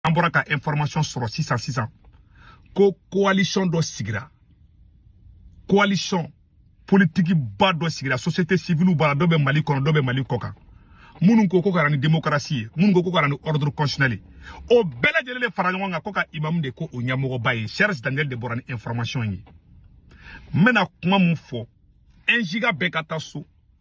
an bɔra ka information sɔrɔ sisan sisan ko coalition dɔ sigira coalition politiki ba dɔ sigira société civile b'a la dɔ bɛ mali kɔnɔ dɔ bɛ mali kɔkan minnu ko k'u ka na ni démocratie ye minnu ko k'u ka na ni ordre constitutionnel ye o bɛɛ lajɛlen de fara ɲɔgɔn kan ko ka imamu de k'o ɲɛmɔgɔba ye serge daniel de bɔra ni information ye n bɛna kuma min fɔ un giga bɛɛ ka taa so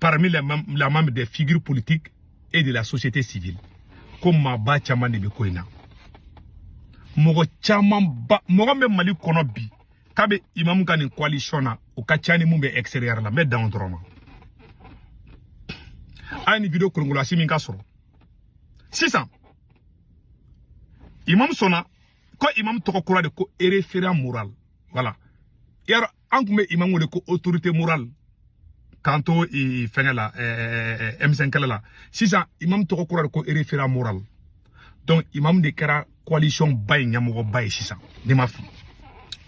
parmi les membres des figures politiques et de la société civile ko maaba caman de bɛ ko in na mɔgɔ caman ba mɔgɔ bɛ mali kɔnɔ bi k'a bɛ imamu ka nin coalition na o ka ca ni min bɛ extérieur la n bɛ dan o dɔrɔn ma a ye nin video kolonkolon asimi k'a sɔrɔ sisan imamu sɔnna ko imam tɔgɔ kura de ko référent moral voilà yɔrɔ an tun bɛ imam wele ko autorité morale k'an to fɛngɛ la M5 kɛlɛ la sisan imam tɔgɔ kura de ko référent moral donc imam de kɛra coalition ba ye ɲɛmɔgɔba ye sisan ne ma fili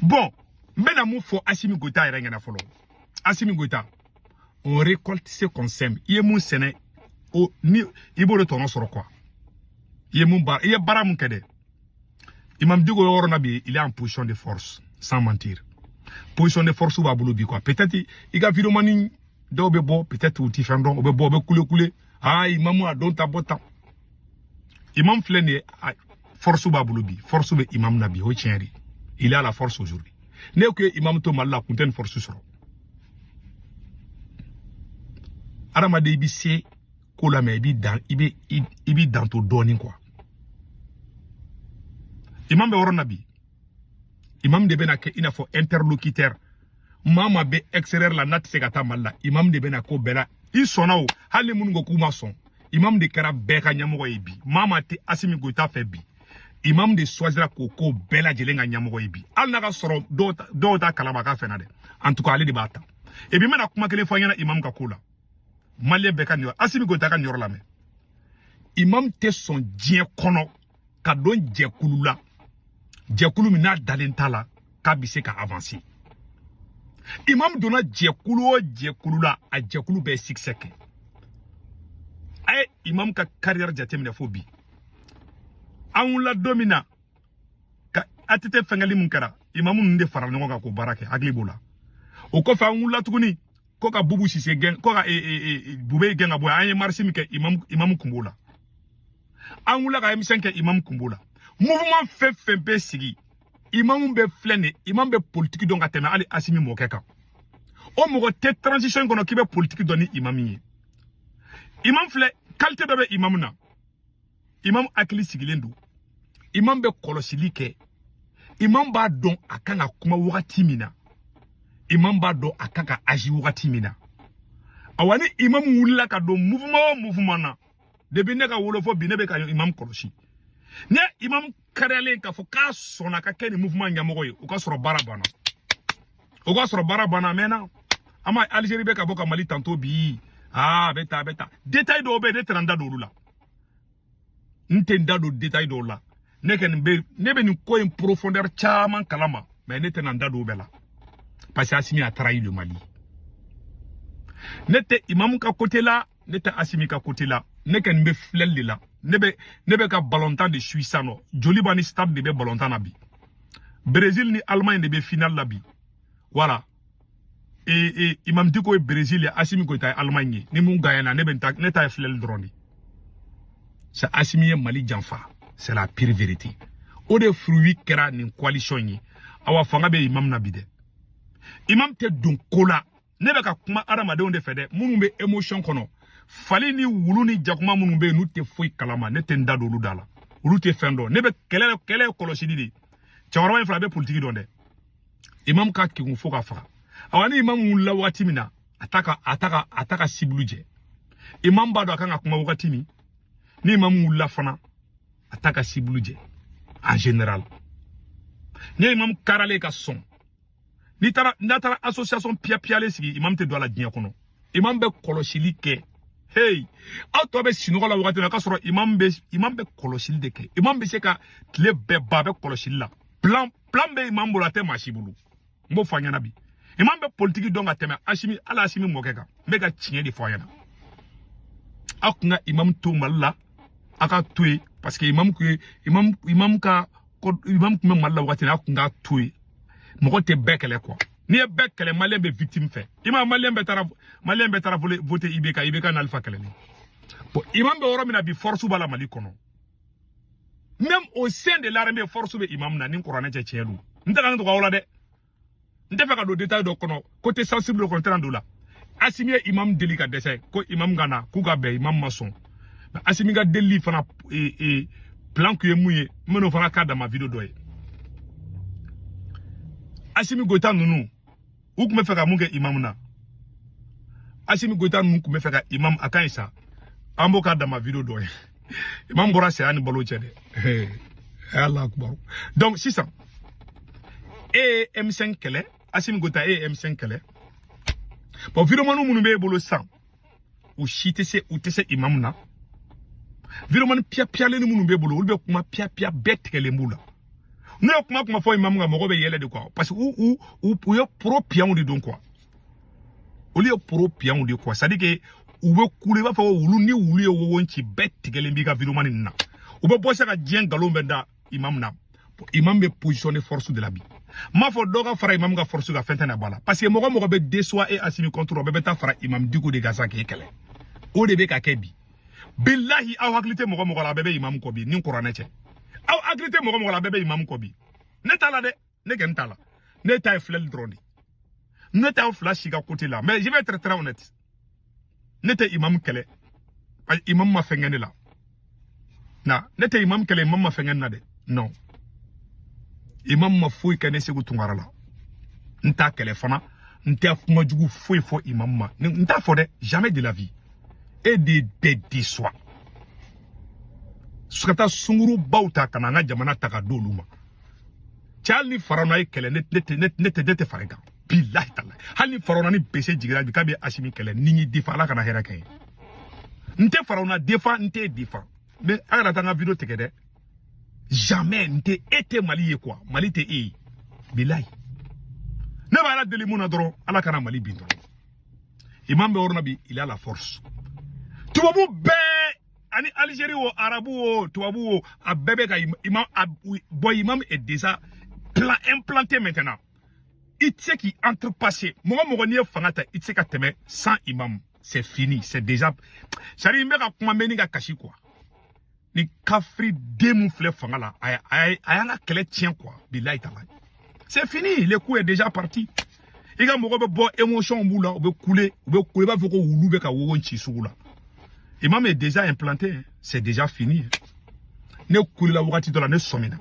bon n bɛna min fɔ asimi goyita yɛrɛ ɲɛ na fɔlɔ asimi goyita on récolte ce qu'on sème i ye min sɛnɛ o ni i b'o de tɔnɔ sɔrɔ quoi i ye min baara i ye baara min kɛ dɛ Imam Dicko yɔrɔ na bi, il est en position de force, sans mentir. Position de force b'a bolo bi quoi. Peut-être i ka vidéomanni dɔw bɛ bɔ peut-être u ti fɛn dɔn u bɛ bɔ u bɛ kule kule aa imamu a don ta bɔ tan imam filɛ nin force b'a bolo bi force bɛ imam na bi o tiɲɛ il a la force aujourd'hui n'u kun ye imam to mali la a kun tɛ nin force sɔrɔ adamaden i bɛ se ko la mais i b'i dan i bɛ i b'i dan to dɔɔnin quoi imam bɛ yɔrɔ na bi imam de bɛna kɛ i n'a fɔ interlocuteur maa maa bɛ extérieur la n'a tɛ se ka taa mali la imam de bɛna ko bɛɛ la i sɔnna o hali ni minnu ko k'u ma sɔn imam de kɛra bɛɛ ka ɲɛmɔgɔ ye bi maa maa tɛ asimi goyita fɛ bi imam de choisira k'a k'o bɛɛ lajɛlen ka ɲɛmɔgɔ ye bi hali n'a ka sɔrɔ dɔw t'a kalama k'a fɛnna dɛ en tout cas ale de b'a ta et puis n bɛna kuma kelen fɔ aw ɲɛ na imam ka ko la maliyɛn bɛɛ ka nin yɔrɔ asimi goyita ka nin yɔrɔ lamɛn imam tɛ sɔn diɲɛ kɔnɔ ka don jɛkulu la jɛkulu min n'a dalen t'a la k'a bɛ se ka avanse imam donna jɛkulu o jɛkulu la a jɛkulu bɛ succès kɛ a ye imam ka kariyɛri jateminɛ fo bi an wulila don min na ATT fɛnkɛli min kɛra imamu ninnu de farala ɲɔgɔn kan k'o baara kɛ hakili b'o la o kɔfɛ an wulila tuguni ko ka bubu sise gɛn ko ka e, e, e, bube gɛn ka bɔ an ye marisi min kɛ imamu imamu kun b'o la an wulila ka M5 kɛ imamu kun b'o la mouvement fɛn fɛn bɛ sigi imamu bɛ filɛ nin imamu bɛ politiki dɔn ka tɛmɛ hali asimi mɔkɛ kan o mɔgɔ tɛ transition kɔnɔ k'i bɛ politiki dɔn ni imamu ye imamu filɛ kalite dɔ bɛ imamu na imam hakili sigilen don imam bɛ kɔlɔsili kɛ imam b'a dɔn a kan ka kuma wagati min na imam b'a dɔn a kan ka azi wagati min na awa ni imam wulila ka don mouvement o mouvement na depuis ne ka wolo fo bi ne bɛ ka imam kɔlɔsi ni imam kariyalen k'a fɔ k'a sɔnna ka kɛ nin mouvement ɲɛmɔgɔ ye o ka sɔrɔ baara banna o ka sɔrɔ baara banna a mɛnna an ma Algérie bɛ ka bɔ ka Mali tanto bi aa a bɛ ta a bɛ ta détail dɔw bɛ yen ne tɛna n da don olu la n tɛ n da don détail dɔw la ne kɔni bɛ ne bɛ nin ko in profondeur caman kalama mais ne tɛna n da don o bɛɛ la parce que Asimi a trahi le Mali ne tɛ imamu ka côté la ne tɛ asimi ka kote la ne kɔni bɛ filɛli de la ne bɛ ne bɛ ka balontan de sui sisan nɔ joliba ni stade de bɛ balontan na bi brésil ni allemagne de bɛ final la bi voilà e e imam diko ye brésil ye asimi goyita ye allemagne ye ni min gagnana ne bɛ n ta ne ta ye filɛli dɔrɔn de sa asimi ye mali janfa c'est la pire vérité o de fruit kɛra nin coalition ye awa fanga bɛ imam na bi dɛ imam tɛ don ko la ne bɛ ka kuma adamadenw de fɛ dɛ minnu bɛ emotion kɔnɔ fali ni wulu ni jakuma minnu bɛ yen n'u tɛ foyi kalama ne tɛ n da don olu da la olu tɛ fɛn dɔn ne bɛ kɛlɛ kɛlɛ ye kɔlɔsili de ye cɛkɔrɔba in fana bɛ politiki dɔn dɛ imamu ka kegun fo ka faga awa ni imamu wulila wagati min na a t'a ka a t'a ka a t'a ka sibulu jɛ imamu b'a dɔn a kan ka kuma wagati min ni imamu wulila fana a t'a ka sibulu jɛ en général ni imamu karalen ka sɔn n'i taara n'a taara association piyapiyalen sigi imam tɛ don a la diɲɛ kɔnɔ imam bɛ kɔlɔsili kɛ hey aw tɔw bɛ sinɔgɔ la wagati la k'a sɔrɔ imam bɛ imam bɛ kɔlɔsili de kɛ imam bɛ se ka tile bɛɛ ban a bɛ kɔlɔsili la plan plan bɛ imam bolo a tɛ maa si bolo n b'o fɔ a ɲɛna bi imam bɛ politiki dɔn ka tɛmɛ asimi hali asimi mɔkɛ kan n bɛ ka tiɲɛ de fɔ a ɲɛna aw tun ka imam to mali la a ka to yen parce que imam tun ye imam imam ka ko imam tun bɛ mali la wagati a tun k'a to yen mɔgɔ tɛ bɛɛ kɛlɛ quoi n'i ye bɛɛ kɛlɛ maliyɛn bɛ victime fɛ i ma maliyɛn bɛɛ taara maliyɛn bɛɛ taara vote ibk ibk na alifa kɛlɛli bon imam bɛ yɔrɔ min na bi force b'a la mali kɔnɔ même au sein de l'armée force bɛ imam na ni kuranɛ cɛ tiɲɛ don n tɛ nkalon tigɛ aw la dɛ n t'a fɛ ka don détail dɔ kɔnɔ côté sensible kɔnɔ n tɛna don o la asimi ye imam deli ka dɛsɛ ko imam ka na k'u ka bɛn imam ma sɔn asimi ka delili fana e, e, plan kun ye mun ye n bɛn'o fana k'a dama video dɔ ye asimi goyita ninnu u tun b'a fɛ ka mun kɛ imam na asimi goyita ninnu tun b'a fɛ ka imam a ka ɲi sa an b'o k'a dama video dɔ ye imam bɔra saya ni balo cɛ dɛ ala akubaru donc sisan e ye M5 kɛlɛ asimi goyita e ye M5 kɛlɛ bon videomani minnu b'e bolo sisan u si tɛ se u tɛ se imamu na videomani piyapiyalen minnu b'e bolo olu bɛ kuma piyapiya bɛɛ tigɛlen b'u la n'u ye kuma kuma fɔ imamu ka mɔgɔ bɛ yɛlɛ de quoi parce que u u u ye poro piyanw de don quoi olu ye poro piyanw de quoi c'est-à-dire que u bɛ kule i b'a fɔ ko wulu ni wulu ye wowo ci bɛɛ tigɛlen b'i ka videomani nin na u bɛ bɔ sa ka diɲɛ nkalon bɛɛ da imam na imam bɛ position de force de la bi n m'a fɔ dɔ ka fara imam ka force kan fɛn tɛna bɔ a la parce que mɔgɔ mɔgɔ bɛ déçoit e asimi contre o bɛɛ bɛ taa fara imam diko de kan sa k'e kɛlɛ o de bɛ ka kɛ bi bilahi aw hakili tɛ mɔgɔ mɔgɔ la a bɛɛ bɛ imam kɔ bi ni kuranɛ cɛ aw hakili tɛ mɔgɔ mɔgɔ la a bɛɛ bɛ imam kɔ bi ne t'a la dɛ ne kɔni t'a la ne ta ye filɛli dɔrɔn de ne t'aw fila si ka côté la mais je vais être très honnête ne tɛ imam kɛlɛ imam ma fɛn kɛ ne la na ne tɛ imam kɛlɛ imam ma fɛn kɛ ne na dɛ non imam ma foyi kɛ ne segu tunkara la n t'a kɛlɛ fana n tɛ kuma jugu foyi fɔ imam ma n t'a fɔ dɛ jamais de la vie e de bɛ déçoit ka taa sungurunbaw ta ka na an ka jamana ta ka d'olu ma cɛ hali ni farawuna y'e kɛlɛ ne tɛ ne tɛ ne tɛ fara a kan bilahi tala hali ni farawuna ni bese jigira bi k'a bɛ asimi kɛlɛ ni n y'i défend ala kana hɛrɛ kɛ n ye n tɛ farawuna défend n t'e défend mais a kana taa n ka video tigɛ dɛ jamais n tɛ e tɛ mali ye quoi mali tɛ e ye bilahi ne bɛ ala deli min na dɔrɔn ala kana mali bin dɔrɔn imam bɛ yɔrɔ min na bi il a la force tubabu bɛɛ ani Algérie wo arabu wo tubabu wo a bɛɛ bɛ ka imam bonya imam est déjà plan implanté maintenant i tɛ se k'a outrepasser mɔgɔ mɔgɔ n'i ye fanga ta i tɛ se ka tɛmɛ sans imam c'est fini c'est déjà ça y est n bɛ ka kuma mɛ ni ka kasi quoi nin kafiri den min filɛ fanga la a y'an ka kɛlɛ tiɲɛ quoi bilayi tala c'est fini le coup est déjà parti i ka mɔgɔ bɛ bɔ émotion b'u la u bɛ kule u bɛ kule i b'a fɔ ko wulu bɛ ka wowo ci sugu la imam est déjà implanté hein. c'est déjà fini hein. ne kulela wagati dɔ la ne sɔmina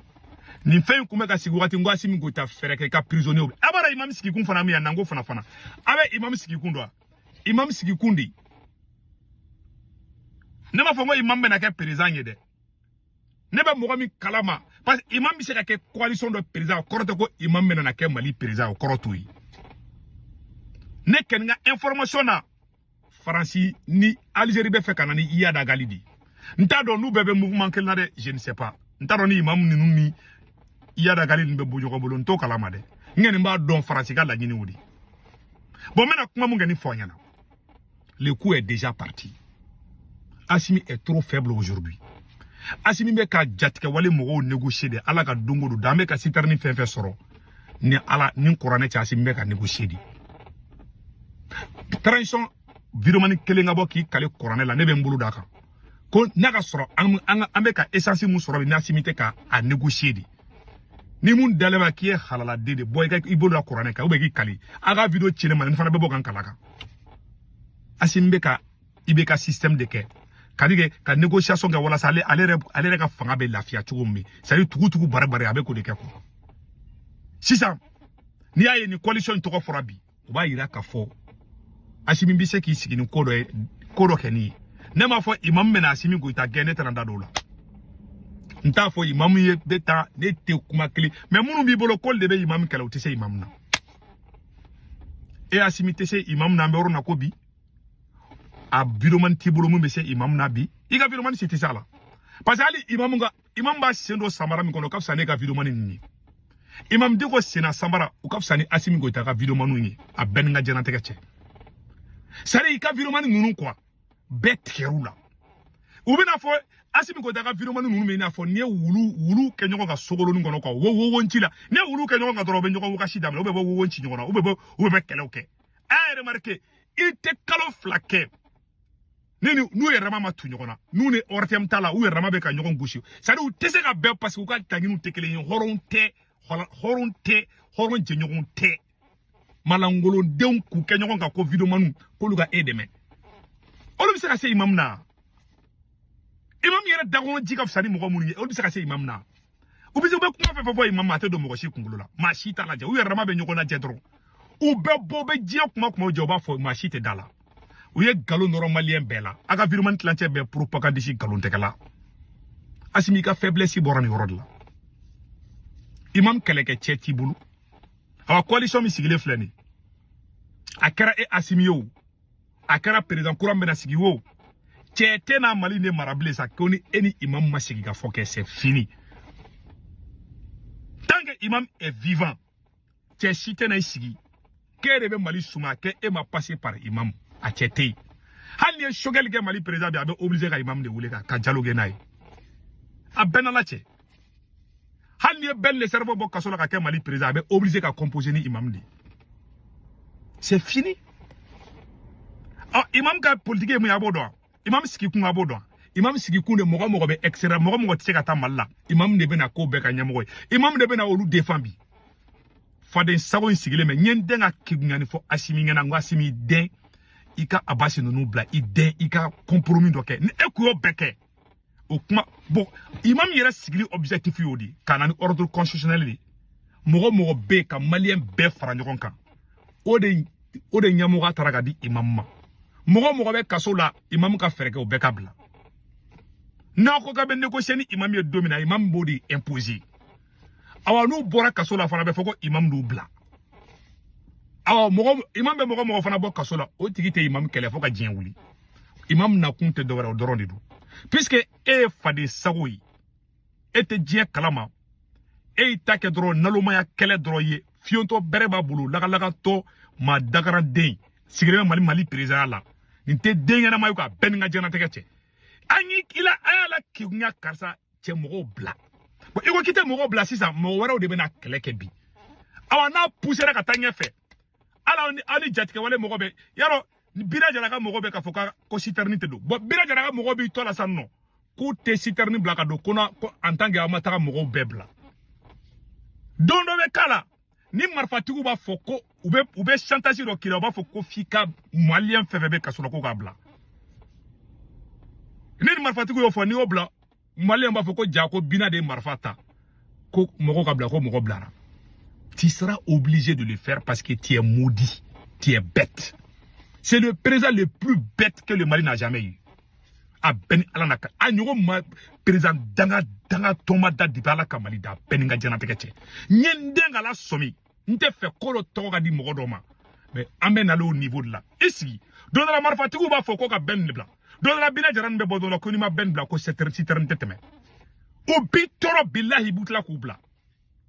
nin fɛn in tun bɛ ka sigi wagati n ko asimi goyita fɛɛrɛ kɛ i ka prisonnier bɛ a b'a dɔn imam sigikun fana min yan nanko fana fana a bɛ imam sigikun dɔn wa imam sigikun de ne m'a fɔ n ko imam bɛna kɛ perezidan ye dɛ ne bɛ mɔgɔ min kalama parce que imam bɛ se ka kɛ coalition dɔ président o kɔrɔ tɛ ko imam bɛna na kɛ mali président o kɔrɔ t'o ye ne kɛni n ka information na faransi ni algérie b'a fɛ ka na ni iyad ag ghali de n t'a dɔn n'u bɛɛ bɛ mouvement kelen na dɛ je ne sais pas n t'a dɔn ni imam ninnu ni iyad ag ghali ninnu bɛ bɔ ɲɔgɔn bolo n t'o kalama dɛ n kɛni b'a dɔn faransi ka laɲini o de ye bon n bɛna kuma mun kɛni fɔ aw ɲɛna le coup est déjà parti Asimi est trop faible aujourd'hui Asimi bɛ ka jatigɛwale mɔgɔw négocier de ala ka don o don de an bɛ ka citerne fɛn fɛn sɔrɔ ni ala ni kuranɛ cɛ Asimi bɛ ka négocier de transition videomani kelen ka bɔ k'i kali kuranɛ la ne bɛ n bolo d'a kan ko n'a ka sɔrɔ an bɛ ka essence mun sɔrɔ bi n'Asimi tɛ ka a négocier de ni mun dalen ma k'i ye halaladen de bɔ i ka i bolo la kuranɛ kan ou bien k'i kali a ka video ci ne ma ne fana bɛ bɔ ka n kali a kan asimi bɛ ka i bɛ ka système de kɛ kadi kɛ ka négociation kɛ walasa ale ale yɛrɛ ale yɛrɛ ka fanga bɛ lafiya cogo min c'est à dire tugu tugu bari bari a bɛ k'o de kɛ quoi sisan n'i y'a ye nin coalition in tɔgɔ fɔra bi u b'a yira k'a fɔ asimi bɛ se k'i sigi ni ko dɔ kɛni ye ne m'a fɔ imamu bɛna asimi goyita gɛn ne tɛna da don o la n t'a fɔ imamu ye bɛ taa ne tɛ kuma kelen mais minnu b'i bolo k'olu de bɛ imamu kɛlɛ u tɛ se imamu na e asimi tɛ se imamu na an bɛ yɔrɔ na ko bi a videomani t'i bolo min bɛ se imamu na bi i ka videomani si tɛ se a la parce que hali imamu ka imam b'a sen don samara min kɔnɔ o ka fisa n'e ka videomani ninnu ye imam dicko senna samara o ka fisa ni asimi goyita ka videomaniw ye a bɛɛ ni ka jɛnatigɛ cɛ c'est à dire i ka videomani ninnu quoi bɛɛ tigɛr'u la u bɛna fɔ asimi goyita ka videomani ninnu bɛ i n'a fɔ n'i ye wulu wulu kɛ ɲɔgɔn kan sogolonin kɔnɔ quoi wo wowonci la n'i ye wulu kɛ ɲɔgɔn kan dɔrɔn u bɛ ɲɔgɔn wagasi daminɛ u bɛ bɔ wowonci ɲɔgɔn na u bɛ bɔ u bɛ bɛ kɛlɛw kɛ a remarquer i tɛ kalo fila kɛ ne ni n'u yɛrɛ dama ma tu ɲɔgɔn na n'u ni ortm t'a la u yɛrɛ dama bɛ ka ɲɔgɔn gosi c'est à dire u tɛ se ka bɛn parce que u ka laɲiniw tɛ kelen ye hɔrɔn tɛ hɔrɔn tɛ hɔrɔn jɛɲɔgɔn tɛ malankolondenw k'u kɛ ɲɔgɔn kan ko videomaniw k'olu ka e dɛmɛ olu bɛ se ka se imamu na imamu yɛrɛ dakɔnɔ ji ka fisa ni mɔgɔ minnu ye olu bɛ se ka se imamu na u bɛ se u bɛ kuma fɛn fɛn fɔ imam ma a tɛ don mɔgɔ si kunkolo la maa si t'a lajɛ u yɛrɛ dama bɛ ɲɔgɔn lajɛ dɔrɔn u bɛ bɔ bɛ diɲɛ kuma kuma jɛ u b'a fɔ maa si tɛ da a la u ye nkalon nɔrɔ maliyɛn bɛɛ la a ka videomani tilancɛ bɛɛ propagandiste nkalontigɛla asimi i ka faiblesse bɔra nin yɔrɔ de la imam kɛlɛkɛ cɛ t'i bolo awa coalition min sigilen filɛ nin a kɛra e asimi ye o a kɛra président kura bɛna sigi wo cɛ tɛna mali nin mara bilen sa ko ni e ni imam ma sigi ka fɔ kɛ c'est fini tant que imam est vivant cɛ si tɛ na i sigi k'e de bɛ mali suma kɛ e ma passer par imam a cɛ tɛ yen hali n'i ye choguel kɛ mali président bi a bɛ obligé ka imam de wele ka dialogue kɛ n'a ye a bɛ n ni ala cɛ hali n'i ye ben le cerveau bɔ kaso la ka kɛ mali président a bɛ obligé ka composer ni imam de c'est fini ɔ ah, imam ka politique ye mun ye a b'o dɔn imam sigi kun a b'o dɔn imam sigi kun de mɔgɔ mɔgɔ bɛ extérieur mɔgɔ mɔgɔ tɛ se ka taa mali la imam de bɛna k'o bɛɛ ka ɲɛmɔgɔ ye imam de bɛna olu défendre bi faden sago in sigilen bɛ n ye n den ka kegunya nin fɔ asimi ɲɛna n ko asimi den i ka abasi ninnu bila i den i ka compromis dɔ kɛ ni e kun y'o bɛɛ kɛ o kuma bon imam yɛrɛ sigili objectif y'o de ka na ni ordre constitutionnel de mɔgɔ mɔgɔ bɛ ka maliyɛn bɛɛ fara ɲɔgɔn kan o de o de ɲɛmɔgɔya tara ka di imam ma mɔgɔ mɔgɔ bɛ kaso la imam ka fɛɛrɛ kɛ o bɛɛ ka bila n'a ko k'a bɛ négocier ni imam ye don min na imam b'o de imposer awa n'u bɔra kaso la fana bɛ fɔ ko imam d'u bila awa mɔgɔ imam bɛ mɔgɔ mɔgɔ fana bɔ kaso la o tigi tɛ imam kɛlɛ fo ka diɲɛ wuli imam nakun tɛ dɔwɛrɛ o dɔrɔn de don puisque e ye faden sago ye e tɛ diɲɛ kalama e y'i ta kɛ dɔrɔn nalomaya kɛlɛ dɔrɔn ye fiyentɔ bere b'a bolo lagalagatɔ maa dangalen de sigilen bɛ mali mali présidentya la nin tɛ den ɲɛnama ye k'a bɛ n ni n ka diɲɛnatigɛ cɛ an y'i kila a y'a la kegunya karisa cɛ mɔgɔw bila bon i ko k'i tɛ mɔgɔw bila sisan mɔgɔ wɛrɛw de bɛna kɛlɛ kɛ bi awa n'a pusera ka taa ɲɛfɛ hali aw ni jatigɛwale mɔgɔ bɛ yarɔ bina jara ka mɔgɔ bɛ k'a fɔ ka ko sitɛrini tɛ don bon bina jara ka mɔgɔ b'i tɔ la sa nɔ k'u tɛ sitɛrini bila ka don ko na ko en tant que aw ma taga mɔgɔw bɛɛ bila don dɔ bɛ k'a la ni marifatigiw b'a fɔ ko u bɛ u bɛ chantage dɔ k'i la u b'a fɔ ko f'i ka maliyɛn fɛn fɛn bɛ kaso la ko k'a bila ne ni marifatigiw y'o fɔ n'i y'o bila maliyɛn b'a fɔ ko jaa ko bina de ye marifa ta ko mɔgɔ ka bila ko mɔgɔ bilara tu seras obligé de le faire parce que tu es maudit tu es bête c'est le président le plus bête que le Mali n'a jamais eu a bɛ n ni ala na ka a ɲɔgɔn ma président danga dangatɔ ma da dibi ala ka mali da a bɛ n ni n ka jɛnatigɛ cɛ n ye n den ka lasɔmi n t'a fɛ ko dɔ tɔgɔ ka di mɔgɔ dɔ ma mais an bɛ nalen o niveau de la i sigi don dɔ la marifatigiw b'a fɔ ko ka ben bila don dɔ la bina jara nin bɛ bɔ dɔ la ko n'i ma ben bila ko sitɛrini tɛ tɛmɛ o b'i tɔɔrɔ bilahi b'u tila k'u bila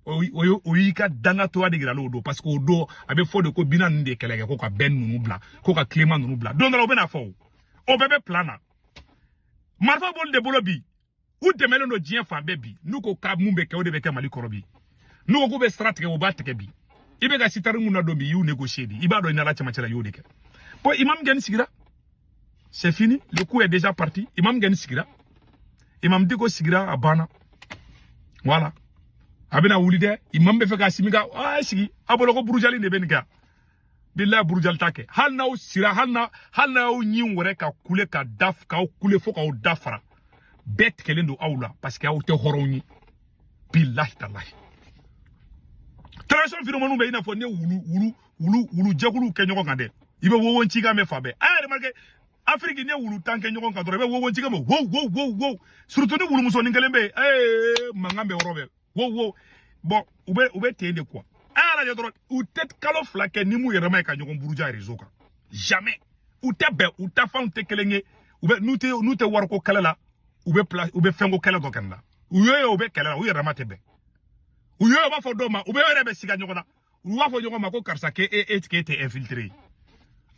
o y'i ka dangatɔya de yira n'o don parce que o don a bɛ fɔ de ko bina ninnu de kɛlɛ kɛ ko ka bɛn ninnu bila ko ka clément ninnu bila don dɔ la o bɛna fɔ o o bɛɛ bɛ plan na marifa b'olu de bolo bi u dɛmɛlen don diɲɛ fan bɛɛ bi n'u ko ka mun bɛ kɛ o de bɛ kɛ mali kɔnɔ bi n'u ko k'u bɛ sira tigɛ u b'a tigɛ bi i bɛ ka citerne minnu ladon bi i y'u négocier de i b'a dɔn i n'ala cɛmancɛ la i y'o de kɛ bon imam kɔni sigira c'est fini le coup est déjà parti imam kɔni sigira imam diko sigira a banna voilà a bɛna wuli dɛ imam bɛ fɛ k'asimi ka a sigi a bolo ko burujali de bɛ nin kɛ bilayi burujali t'a kɛ hali n'aw sira hali na hali n'aw ɲin wɛrɛ ka kule ka da k'aw kule fo k'aw da fara bɛɛ tigɛlen don aw la parce que aw tɛ hɔrɔnw ye bilahi talahi transition videomaniw bɛ i n'a fɔ n'i ye wulu wulu wulu wulu jɛkuluw kɛ ɲɔgɔn kan dɛ i bɛ wowo cikan mɛn fan bɛɛ a y'a remarqué afiriki n'i ye wulu tan kɛ ɲɔgɔn kan dɔrɔn i bɛ wowo cikan mɛn wow wow wow wow surtout ni wulumusonin kelen bɛ yen ee mankan bɛ yɔrɔ bɛɛ wow wow bon u bɛ u bɛ ten de quoi a y'a lajɛ dɔrɔn u tɛ kalo fila kɛ n'u m'u yɛrɛma ye ka ɲɔgɔn buruja réseau kan jamais u tɛ bɛn u tafanw tɛ kelen ye u bɛ n'u tɛ n'u tɛ wariko kɛlɛ la u bɛ pla u bɛ fɛnko kɛlɛ dɔ kɛnɛ la u y'o ye u bɛ kɛlɛ la u yɛrɛma tɛ bɛn u y'o ye u b'a fɔ dɔw ma u bɛ yɛrɛ bɛ siga ɲɔgɔn na u b'a fɔ ɲɔgɔn ma ko karisa ke e e tike tɛ infiltré ye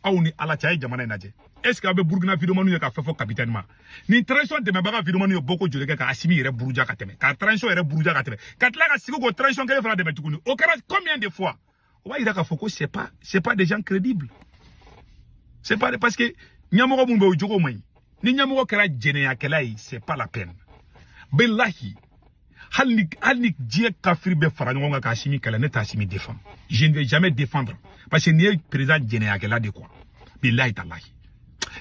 aw ni ala cɛ a ye jamana in lajɛ est ce que aw bɛ burukina videomaniw ye ka fɛn fɔ capitaine ma nin transition dɛmɛbaga videomaniw ye bɔko joli kɛ ka asimi yɛrɛ buruja ka tɛmɛ ka transition yɛrɛ buruja ka tɛmɛ ka tila ka sigi k'o transition kelen fana dɛmɛ tuguni o kɛra combien de fois o b'a yira k'a fɔ ko c'est pas c'est pas des gens crédibles c'est pas parce que ɲɛmɔgɔ minnu bɛ o jogo man ɲi ni ɲɛmɔgɔ kɛra jɛnɛyakɛla ye c'est pas la peine bilahi hali ni hali ni diɲɛ kafiri bɛɛ fara ɲɔgɔn kan k'asimi kɛlɛ ne t'asimi défendre je ne vais jamais défendre parce que nin ye président jɛnɛyakɛla de quoi bilahi talahi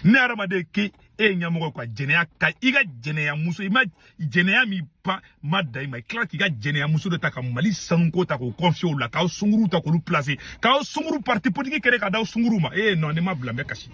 ne hadamaden k'e ye ɲɛmɔgɔ quoi jɛnɛya ka i ka jɛnɛya muso i ma jɛnɛya min ba ma da i ma i tila k'i ka jɛnɛya muso de ta ka mali sanuko ta k'o confier o la k'aw sunguruw ta k'olu placer k'aw sunguru parti politique créer k'a d'aw sunguru ma ee non ne ma bila n bɛ kasi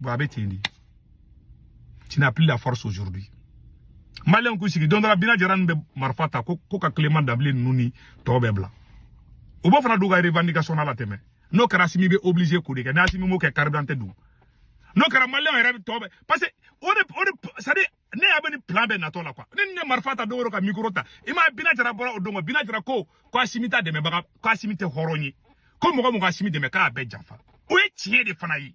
bon a bɛ ten de tu n'as plus la force aujourd'hui maliyɛnw k'u sigi don dɔ la bina jara nin bɛ marifa ta ko ko ka clément dembélé ninnu ni tɔw bɛɛ bila u b'o fana d'u ka revendication na la tɛmɛ n'o kɛra asimi bɛ obligé k'o de kɛ n'asimi m'o kɛ carburant tɛ don n'o kɛra maliyɛnw yɛrɛ tɔw bɛɛ parce que o de o de c'est à dire ne ɲɛ bɛ nin plan bɛɛ natɔ la quoi ne ni ne marifa ta don o don ka micro ta i m'a ye bina jara bɔra o don bina jara ko ko asimi t'a dɛmɛbaga ko asimi tɛ hɔrɔn ye ko mɔgɔ o mɔgɔ y'asimi dɛmɛ k'a bɛɛ janfa o ye tiɲɛ de fana ye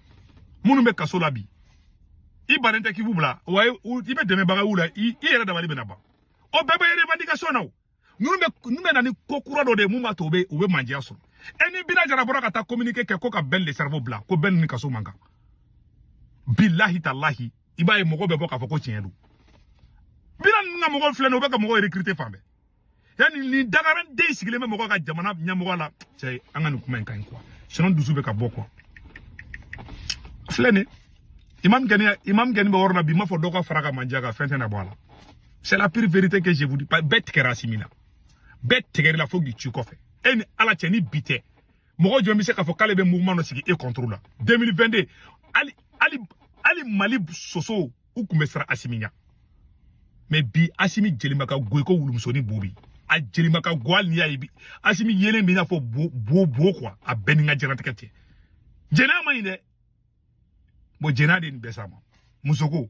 minnu bɛ kaso la bi i bannen tɛ k'i b'u bila wa i bɛ dɛmɛbaga y'u la i yɛrɛ dabali bɛna ban o bɛɛ bɛ revendication na o ninnu bɛ ninnu bɛ na ni ko kura dɔ de ye mun b'a to u bɛ u bɛ mandiya sɔrɔ e ni bina jara bɔra ka taa communiqué kɛ ko ka bɛn le cerveau bila ko bɛn ni kaso man kan bilahi talahi i b'a ye mɔgɔ bɛ bɔ k'a fɔ ko tiɲɛ don bina ninnu ka mɔgɔw filɛ nin ye u bɛ ka mɔgɔw recruter fan bɛɛ yanni nin dagaranden sigilen bɛ mɔgɔ ka jamana ɲɛmɔgɔ la cɛ an ka nin kuma in ka ɲi kuwa sinɔn dusu bɛ ka bɔ kuwa filɛ nin imam gɛni imam gɛni bɛ yɔrɔ la bi n b'a fɔ dɔw ka fara ka manja kan fɛn tɛ na bɔ a la c'est la pure vérité que je vous dis bɛɛ tigɛra asimi na bɛɛ tigɛr'i la fo k'i ci kɔfɛ e ni ala cɛ ni bi tɛ mɔgɔ jɔn bɛ se k'a fɔ k'ale bɛ mouvement dɔ sigi e contre la 2022 hali hali hali mali sosow u kun bɛ siran asimi ɲa mɛ bi asimi jelima ka go i ko wulumusoni bo bi a jelima ka go hali n'i y'a ye bi asimi yelen b'i n'a fɔ bo bo bo kuwa a bɛɛ ni ka jɛnatigɛ cɛ jɛnɛya man ɲi dɛ bɔn jɛnɛya de nin bɛɛ s'a ma musoko